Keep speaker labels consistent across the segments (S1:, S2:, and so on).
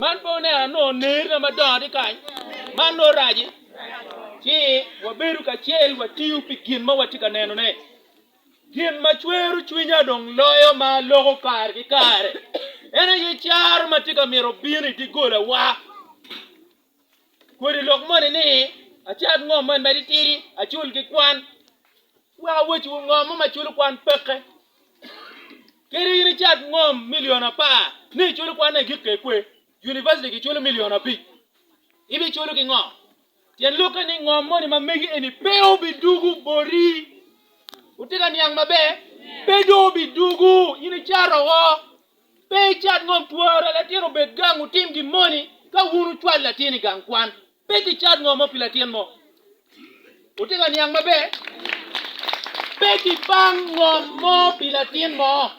S1: Man pe oneno anongo nerina madongo tye kany, man nongo raci ci wabedo kacel watiyo pi gin ma watye ka nenone. Gin ma cwero cwinya dong loyo ma aloko kare ki kare en aye caro ma tye ka mito bino i diggolawa. Kodi lok moni ni acat ngom man matitidi acul ki kwan. Wek awecciwu ngo mo ma culo kwan peke. Kadi in icat ngom milion apar ni iculo kwanne i gik kekwe, univaciti giculo milion abic, ibiculo ki ngo? Tyen lokke ni ngom moni ma megi eni pe obidugu boti. Wutye ka niang maber? Pe dong obidugu. In icat oko. Pe icat ngom twara latin obed gang otim gin moni ka wun wucwalo latin i gang kwan. Pe gicat ngo mo pi latin mo. Wutye ka niang maber? Pe gibang ngo mo pi latin mo.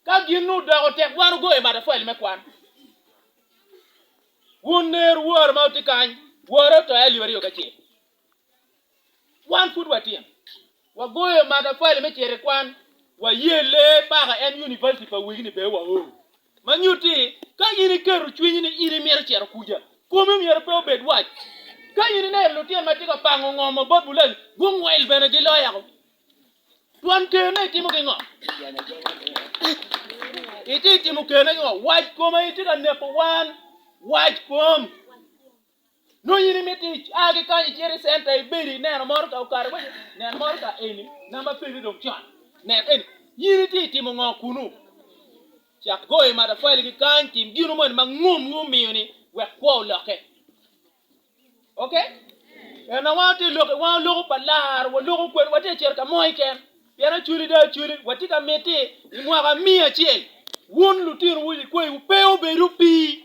S1: Ka gin odoko tek wan ogoyo matafwali me kwan. Wun ner wor ma wutye kany, wore otoyo alip aryo ki acel. Wan pud watino, wagoyo matafali me cito i kwan, waye lee paka en univaciti pa wegini bene waoro. Ma nyutti, ka in iketo cwinyi ni in imito cito kuca, komi myero pe obed wac. Ka in ineno lutino ma tye ka pango ngomo bot bulali, gungwel bene giloyako. Twon kene itimo ki ngo? Itye timo kene ki ngo? Wac koma itye ka neko wan. Wac kom. Nongo in imito a ki kany icit i centa ibedo ineno motoka okato kwica, nen motoka eni namba peni dong con, nen eni. In itye i timo ngo kunu? Cak goyo matafali ki kany, tim gino moni ma ngomwu omiyo-ni wek kwo olokke. Ok? Ena wan watye lok, wan oloko pa laro, waloko kwed, watye ka cito ka mo iken. Pien acwali dong acwali, watye ka miti i mwaka miya acel wun lutinowu likwayi wupe obed opii.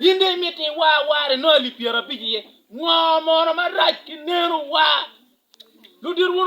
S1: In dong imito iwa awara inongo alip pyerabic iye? Ngo mono marac ki neno wa? Ludit wun